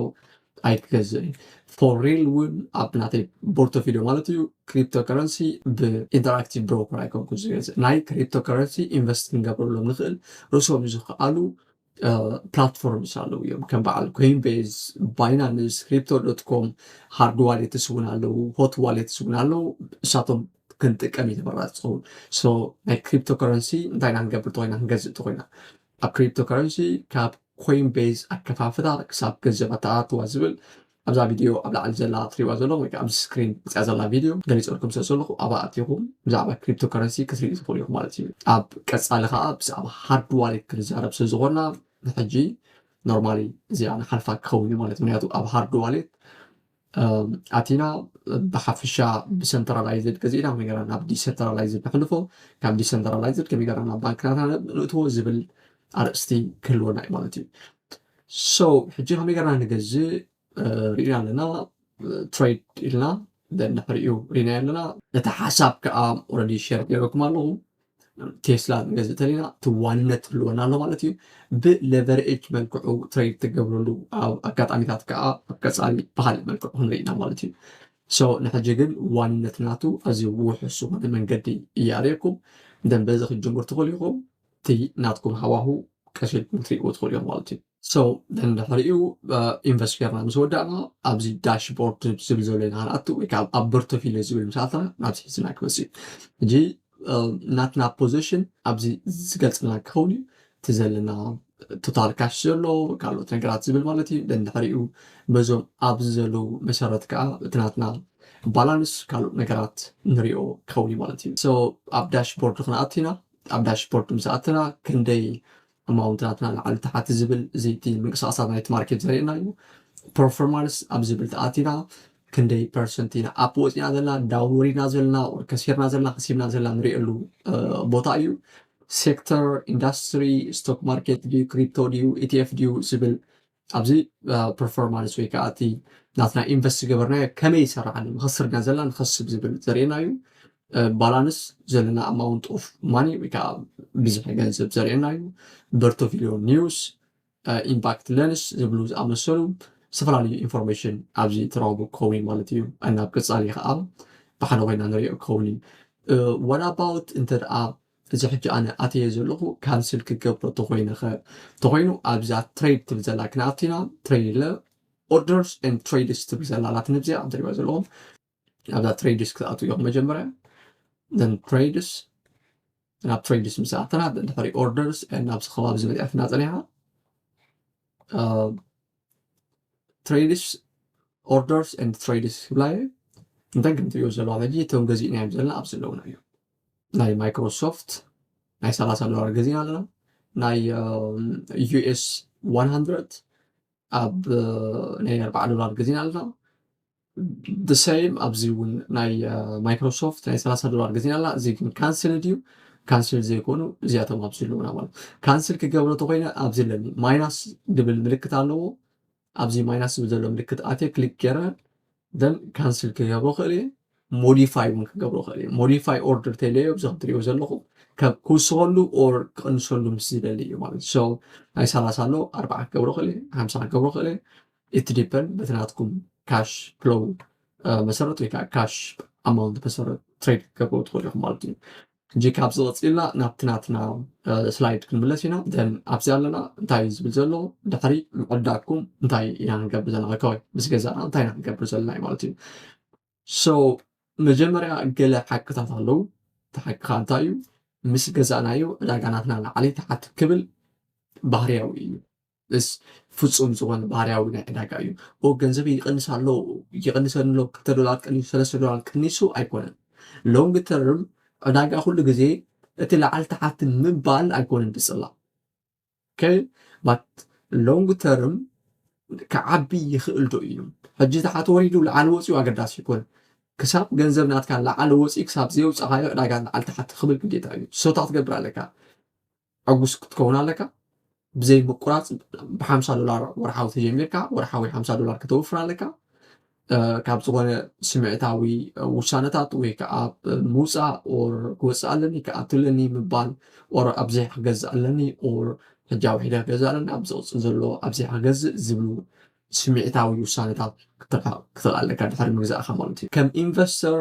ኣይክገዝእን እዩ ፎር ሪል እውን ኣብ ናተይ ቦርቶፊልዮ ማለት እዩ ክሪፕቶ ከረንሲ ብኢንተራክቲቭ ብሮከር ኣይኮንኩ ዝገዝእ ናይ ክሪፕቶ ከረንሲ ኢንቨስት ክንገብረሎም ንኽእል ርእሶም ዝኽኣሉ ፕላትፎርምስ ኣለዉ እዮም ከም በዓል ኮይን ቤዝ ባይናንስ ክሪፕቶ ዶት ኮም ሃርድ ዋሌትስ እውን ኣለዉ ሆት ዋሌትስ እውን ኣለዉ እሳቶም ክንጥቀም እዩ ተመራፂ ዝኸውን ሶ ናይ ክሪፕቶ ከረንሲ እንታይ ኢና ክንገብር ተኮይና ክንገዝእ ተኮይና ኣብ ክሪፕቶከረንሲ ካብ ኮይን ቤዝ ኣከፋፍላ ክሳብ ገንዘብ ኣተኣታትዋ ዝብል ኣብዛ ቪድዮ ኣብ ላዕሊ ዘላ ትሪእዋ ዘለኹም ወይ ከዓ ኣብዚ ስክሪን መፅያ ዘላ ቪድዮ ገሊፀልኩም ስለ ዘለኹ ኣብኣ ኣቲኹም ብዛዕባ ክሪፕቶከረንሲ ክትሪኡ ትኽእሉ ኢኹም ማለት እዩ። ኣብ ቀፃሊ ከዓ ብዛዕባ ሃርድ ዋሌት ክንዛረብ ስለ ዝኾንና ንሕጂ ኖርማሊ እዚኣ ንሓልፋ ክኸውን እዩ ማለት ምክንያቱ ኣብ ሃርድ ዋሌት ኣቲና ብሓፈሻ ብሰንትራላይዝድ ገዚእና ከመይ ገርና ናብ ዲሰንትራላይዝድ ነሕልፎ ካብ ዲሰንትራላይዝድ ከመይ ገርና ናብ ባንክናትና ንእትዎ ዝብል ኣርእስቲ ክህልወና እዩ ማለት እዩ ሶ ሕጂ ከመይ ገርና ንገዝእ ርኢና ኣለና ትሬድ ኢልና ንሕሪኡ ርኢናዮ ኣለና ነቲ ሓሳብ ከዓ ኦረዲ ሸር ገይረኩም ኣለኹ ቴስላ ክንገዝእ እንተለና እቲ ዋንነት ክህልወና ኣሎ ማለት እዩ ብለቨርኤጅ መልክዑ ትሬድ ትገብረሉ ኣብ ኣጋጣሚታት ከዓ ኣብ ቀፃሊ ብካሊእ መልክዑ ክንርኢ ኢና ማለት እዩ ሶ ንሕጂ ግን ዋንነት ናቱ ኣዝዩ ውሑስ ዝኾነ መንገዲ እያርእየኩም ደን በዚ ክትጅምሩ ትኽእሉ ኢኹም እቲ ናትኩም ሃዋሁ ቀስ ኢልኩም ክትሪእዎ ትኽእሉ እዮም ማለት እዩ So then ድሕሪኡ ኢንቨስት ጌርና ምስ ወዳእና ኣብዚ ዳሽቦርድ ዝብል ዘሎ ኢና ክንኣቱ ወይ ከዓ ኣብ ፖርቶፊልዮ ዝብል ምስ ኣተና ናብዚ ሒዝና ክመፅእ እዩ ሕጂ ናትና ፖዚሽን ኣብዚ ዝገልፅልና ክኸውን እዩ እቲ ዘለና ቶታል ካሽ ዘሎ ካልኦት ነገራት ዝብል ማለት እዩ ደን ድሕሪኡ በዞም ኣብዚ ዘለዉ መሰረት ከዓ እቲ ናትና ባላንስ ካልኦት ነገራት ንሪኦ ክኸውን እዩ ማለት እዩ ሶ ኣብ ዳሽቦርድ ክንኣቱ ኢና ኣብ ዳሽቦርድ ምስ ኣተና ክንደይ ኣማውንትታት ንላዕሊ ታሕቲ ዝብል እዚ እቲ ምንቅስቃሳት ናይቲ ማርኬት ዘርእየና እዩ ፐርፎርማንስ ኣብ ዝብል ተኣቲና ክንደይ ፐርሰንት ኢና ኣፕ ወፂና ዘለና ዳውን ወሪድና ዘለና ከሲርና ዘለና ከሲብና ዘለና ንሪእሉ ቦታ እዩ ሴክተር ኢንዳስትሪ ስቶክ ማርኬት ድዩ ክሪፕቶ ድዩ ኢቲኤፍ ድዩ ዝብል ኣብዚ ፐርፎርማንስ ወይ ከዓ እቲ ናትና ኢንቨስት ዝገበርናዮ ከመይ ይሰራዕ ኣሎ ንኸስር ድና ዘለና ንኸስብ ዝብል ዘርእየና እዩ ባላንስ ዘለና ኣማውንት ኦፍ ማኒ ወይ ከዓ ብዝሒ ገንዘብ ዘርእየና እዩ በርቶቪሊዮ ኒውስ ኢምፓክት ለንስ ዝብሉ ዝኣመሰሉ ዝተፈላለዩ ኢንፎርሜሽን ኣብዚ ትረኽቡ ክኸውን ማለት እዩ እናብ ቅፃሊ ከዓ ብሓደ ኮይና ንሪኦ ክኸውን እዩ ዋት ኣባውት እንተ ደኣ እዚ ሕጂ ኣነ ኣትየዮ ዘለኹ ካንስል ክገብሮ ተኾይነኸ ተኾይኑ ኣብዛ ትሬድ ትብል ዘላ ክነኣቲና ትሬድ ኢለ ኦርደርስ ኤንድ ትሬድስ ትብል ዘላ ኣላትኒ ኣብዚኣ ትሪእዋ ዘለኹም ኣብዛ ትሬድስ ክትኣትው ኢኹም መጀመርያ ን ትሬድስ ናብ ትሬድስ ምስ ኣተና ድሕሪ ኦርደርስ ናብዚ ከባቢ ዝመፅኣትና ፀኒሓ ትሬድስ ኦርደርስ ን ትሬድስ ክብላ እየ እንተን ከምትሪኦ ዘለዋ ሕጂ እቶም ገዚእናዮም ዘለና ኣብ ዘለውና እዮም ናይ ማይክሮሶፍት ናይ ሰላሳ ዶላር ገዚእና ኣለና ናይ ዩኤስ ዋን ሃንድረድ ኣብ ናይ ኣርባዓ ዶላር ገዚእና ኣለና ብሰይም ኣብዚ እውን ናይ ማይክሮሶፍት ናይ ሰላሳ ዶላር ገዚእና ኣለና እዚ ግን ካንስል ድዩ ካንስል ዘይኮኑ እዚኣቶም ኣብዚ ኣለዉና ማለት ካንስል ክገብሮ ተኮይነ ኣብዚ ኣለኒ ማይናስ ድብል ምልክት ኣለዎ ኣብዚ ማይናስ ዝብል ዘሎ ምልክት ኣትየ ክሊክ ገይረ ደን ካንስል ክገብሮ ክእል እየ ሞዲፋይ እውን ክገብሮ ክእል እየ ሞዲፋይ ኦርደር ተይለዮ እዚ ክትሪኦ ዘለኹ ካብ ክውስኸሉ ኦር ክቕንሰሉ ምስ ዝደሊ እዩ ማለት እዩ ሰው ናይ ሰላሳ ኣሎ ኣርባዓ ክገብሮ ክእል እየ ሓምሳ ክገብሮ ክእል እየ እቲ ዲፐን በቲ ናትኩም ካሽ ፍሎው መሰረት ወይ ከዓ ካሽ ኣማውንት መሰረት ትሬድ ክገብሮ ትኽእሉ ኢኹም ማለት እዩ ሕጂ ካብዚ ቀጺልና ናብቲ ናትና ስላይድ ክንምለስ ኢና then ኣብዚ ኣለና እንታይ እዩ ዝብል ዘሎ ድሕሪ ምዕዳግኩም እንታይ ኢና ክንገብር ዘለና ኦኬ ምስ ገዛእና እንታይ ኢና ክንገብር ዘለና እዩ ማለት እዩ so መጀመርያ ገለ ሓቅታት ኣለዉ እቲ ሓቅኻ እንታይ እዩ ምስ ገዛእናዮ ዕዳጋ ናትና ላዕሊ ተሓቲ ክብል ባህርያዊ እዩ እስ ፍጹም ዝኾነ ባህርያዊ ናይ ዕዳጋ እዩ። ኦ ገንዘበይ ይቕንስ ኣሎ ይቕንሰኒ ኣሎ ክልተ ዶላር ቀኒሱ ሰለስተ ዶላር ቀኒሱ ኣይኮነን። ሎንግ ተርም ዕዳጋ ኩሉ ግዜ እቲ ላዕሊ ታሕቲ ምባል ኣይኮነን ብጽላ ኦኬ ባት ሎንግ ተርም ክዓቢ ይኽእል ዶ እዩ ሕጂ ታሕቲ ወሪዱ ላዕሊ ወጺኡ ኣገዳሲ ኣይኮነን። ክሳብ ገንዘብ ናትካ ላዕሊ ወጺኡ ክሳብ ዘየውጻኻዮ ዕዳጋ ላዕሊ ታሕቲ ክብል ግዴታ እዩ። ሰታ ክትገብር ኣለካ። ዕጉስ ክትከውን ኣለካ ብዘይ ምቁራፅ ብሓምሳ ዶላር ወርሓዊ ተጀሚርካ ወርሓዊ ሓምሳ ዶላር ከተውፍር ኣለካ ካብ ዝኾነ ስምዒታዊ ውሳነታት ወይ ከዓ ምውፃእ ኦር ክወፅእ ኣለኒ ክኣትለኒ ምባል ኦር ኣብዘይ ክገዝእ ኣለኒ ኦር ሕጃ ውሒደ ክገዝእ ኣለኒ ኣብ ዝቕፅል ዘሎ ኣብዘይ ክገዝእ ዝብሉ ስምዒታዊ ውሳነታት ክትረካ ክትኽእል ኣለካ ድሕሪ ምግዛእካ ማለት እዩ ከም ኢንቨስተር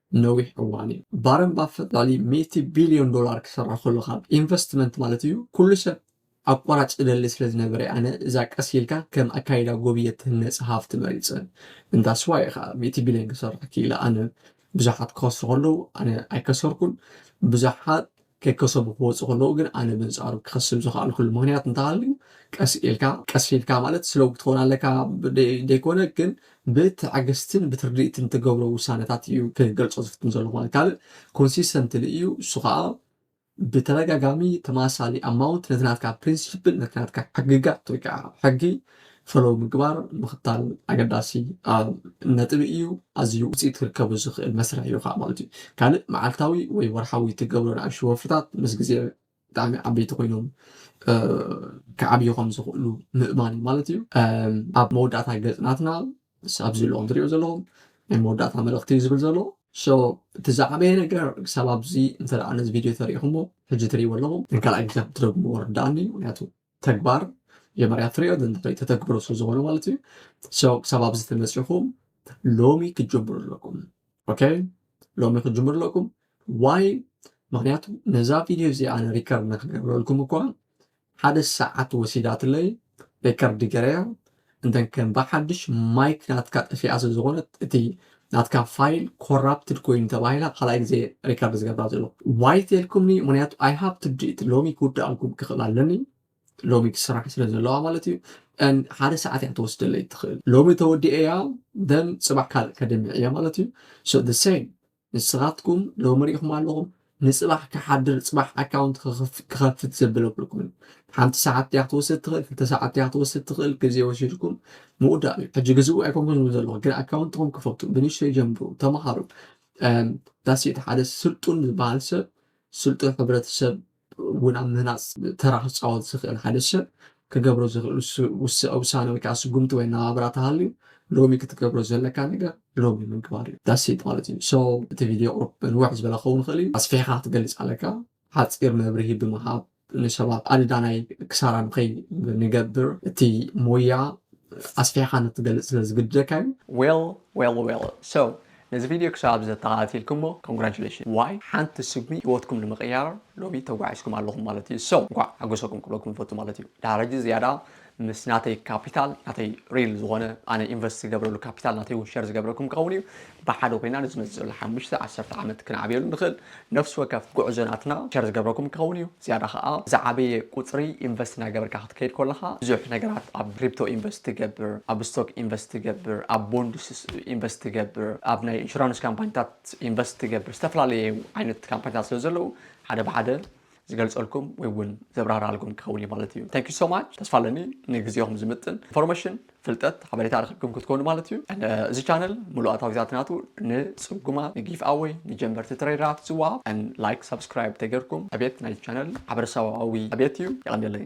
ነዊሕ እዋን እዩ ባረንባ ፈላሊ ሚእቲ ቢልዮን ዶላር ክሰራ ከሎ ካብ ኢንቨስትመንት ማለት እዩ ኩሉ ሰብ ኣቋራጭ ዝደሊ ስለ ዝነበረ እየ ኣነ እዛ ቀስ ኢልካ ከም ኣካይዳ ጎብየ ትህነጽ ሃፍቲ መሪጸ እንዳ ስዋ እየ ከኣ ሚእቲ ቢልዮን ክሰራ ክኢለ ኣነ ብዙሓት ክኸስሩ ከለዉ ኣነ ኣይከሰርኩን ብዙሓት ከይከሰቡ ክወጹ ከለዉ ግን ኣነ በንጻሩ ክኸስብ ዝኸኣልኩሉ ምኽንያት እንተሃልዩ ቀስ ኢልካ ቀስ ኢልካ ማለት ስለቡ ክትኾን ኣለካ ደይኮነ ግን ብትዕግስትን ብትርድእትን ትገብሮ ውሳነታት እዩ ክገልጾ ዝፍትን ዘሎ ማለት ካልእ ኮንሲስተንትሊ እዩ እሱ ከዓ ብተደጋጋሚ ተማሳሊ ኣማውንት ነቲ ናትካ ፕሪንሲፕል ነቲ ናትካ ሕግጋት ወይ ከዓ ሕጊ ፈለዉ ምግባር ምኽታል ኣገዳሲ ነጥቢ እዩ። ኣዝዩ ውጽኢት ክርከቡ ዝኽእል መስርሕ እዩ ከኣ ማለት እዩ። ካልእ መዓልታዊ ወይ ወርሓዊ እትገብሮ ንኣሽቱ ወፍርታት ምስ ግዜ ብጣዕሚ ዓበይቲ ኮይኖም ክዓብዩ ከም ዝኽእሉ ምእማን እዩ ማለት እዩ። ኣብ መወዳእታ ገጽ ናትና ኣብዚ ሎሚ ትሪኦ ዘለኹም ናይ መወዳእታ መልእኽቲ እዩ ዝብል ዘሎ። ሶ እቲ ዝዓበየ ነገር ክሳብ ኣብዚ እንተ ነዚ ቪድዮ ተሪእኹሞ ሕጂ ትሪእዎ ኣለኹም ንካልኣይ ግዜ ክትደግምዎ ርድኣኒ ምክንያቱ ተግባር መጀመርያ ትሪኦ ንድሕሪት ተተግብሮ ስለ ዝኾነ ማለት እዩ ሰው ክሳብ ኣብዚ ተመፂኹም ሎሚ ክትጀምሩ ኣለኩም ኦኬ ሎሚ ክትጀምሩ ኣለኩም ዋይ ምክንያቱ ነዛ ቪድዮ እዚ ኣነ ሪከርድ ንክገብረልኩም እኳ ሓደ ሰዓት ወሲዳትለይ ሪከርድ ገረያ እንተ ከም ብሓድሽ ማይክ ናትካ ጠፊኣ ስለ ዝኾነት እቲ ናትካ ፋይል ኮራፕትድ ኮይኑ ተባሂላ ካልኣይ ግዜ ሪከርድ ዝገብራ ዘሎ ዋይ ተልኩምኒ ምክንያቱ ኣይ ሃብ ቱ ዱ ኢት ሎሚ ክውድኣልኩም ክኽእል ኣለኒ ሎሚ ክስራሕ ስለ ዘለዋ ማለት እዩ ን ሓደ ሰዓት እያ ትወስደለይ ትኽእል ሎሚ ተወዲኤያ ደን ፅባሕ ካልእ ከድምዕ እያ ማለት እዩ ሶ the same ንስኻትኩም ሎሚ ሪኢኹም ኣለኹም ንጽባሕ ክሓድር ጽባሕ ኣካውንት ክኸፍት ዘብለብልኩም እዩ ሓንቲ ሰዓት እያ ክትወስድ ትኽእል ክልተ ሰዓት እያ ክትወስድ ትኽእል ግዜ ወሲድኩም ምውዳእ እዩ ሕጂ ግዝኡ ኣይኮንኩም ዝብል ዘለኹ ግን ኣካውንትኹም ክፈቱ ብንእሽተይ ጀምሩ ተምሃሩ ዳሴት ሓደ ስልጡን ዝበሃል ሰብ ስልጡን ሕብረተሰብ እውን ኣብ ምህናጽ ተራ ክጻወት ዝኽእል ሓደ ሰብ ክገብሮ ዝኽእል ውሳነ ወይ ከኣ ስጉምቲ ወይ ኣነባብራ ተሃልዩ ሎሚ ክትገብሮ ዘለካ ነገር ሎሚ ምግባር እዩ that's it ማለት እዩ so እቲ ቪድዮ ቁሩብ ንውሕ ዝበለ ክኸውን ይኽእል እዩ ኣስፊሕካ ክትገልጽ ኣለካ ሓጺር መብርሂ ብምሃብ ንሰባት ኣደዳ ናይ ክሳራ ንኸይንገብር እቲ ሞያ ኣስፊሕካ ንኽትገልጽ ስለ ዝግድደካ እዩ። Well well well so ነዚ ቪድዮ ክሳብ እዚ ተኸታቲልክሞ Congratulations ዋይ ሓንቲ ስጉሚ ሂወትኩም ንምቕያር ሎሚ ተጓዒዝኩም ኣለኹም ማለት እዩ so እንኳዕ ሓጎሰኩም ክብለኩም ይፈቱ ማለት እዩ ድሓር ሕጂ ዝያዳ ምስ ናተይ ካፒታል ናተይ ሪል ዝኾነ ኣነ ኢንቨስት ዝገብረሉ ካፒታል ናተይ እውን ሸር ዝገብረኩም ክኸውን እዩ ብሓደ ኮይና ንዝመፅእ ዘሎ ሓሙሽተ ዓሰርተ ዓመት ክንዓብየሉ ንኽእል ነፍሲ ወከፍ ጉዕዞ ናትና ሸር ዝገብረኩም ክኸውን እዩ። ዝያዳ ከኣ ዝዓበየ ቁጽሪ ኢንቨስት እናገበርካ ክትከይድ ኮለኻ ብዙሕ ነገራት ኣብ ክሪፕቶ ኢንቨስት ትገብር፣ ኣብ ስቶክ ኢንቨስት ትገብር፣ ኣብ ቦንድስ ኢንቨስት ትገብር፣ ኣብ ናይ ኢንሹራንስ ካምፓኒታት ኢንቨስት ትገብር፣ ዝተፈላለየ ዓይነት ካምፓኒታት ስለ ዘለዉ ሓደ ብሓደ ዝገልጸልኩም ወይ ውን ዘብራራልኩም ክኸውን እዩ ማለት እዩ thank you so much ተስፋ ኣለኒ ንግዜኹም ዝምጥን ኢንፎርሜሽን ፍልጠት ሓበሬታ ረኺብኩም ክትኮኑ ማለት እዩ and uh, እዚ ቻነል ሙሉእ ኣታዊታት ናቱ ንጽጉማት ንጊፍ ኣወይ ንጀመርቲ ትሬደራት ዝወሃብ and like subscribe ተገርኩም ዕቤት ናይ ቻነል ማሕበረሰባዊ ዕቤት እዩ የቐንየለይ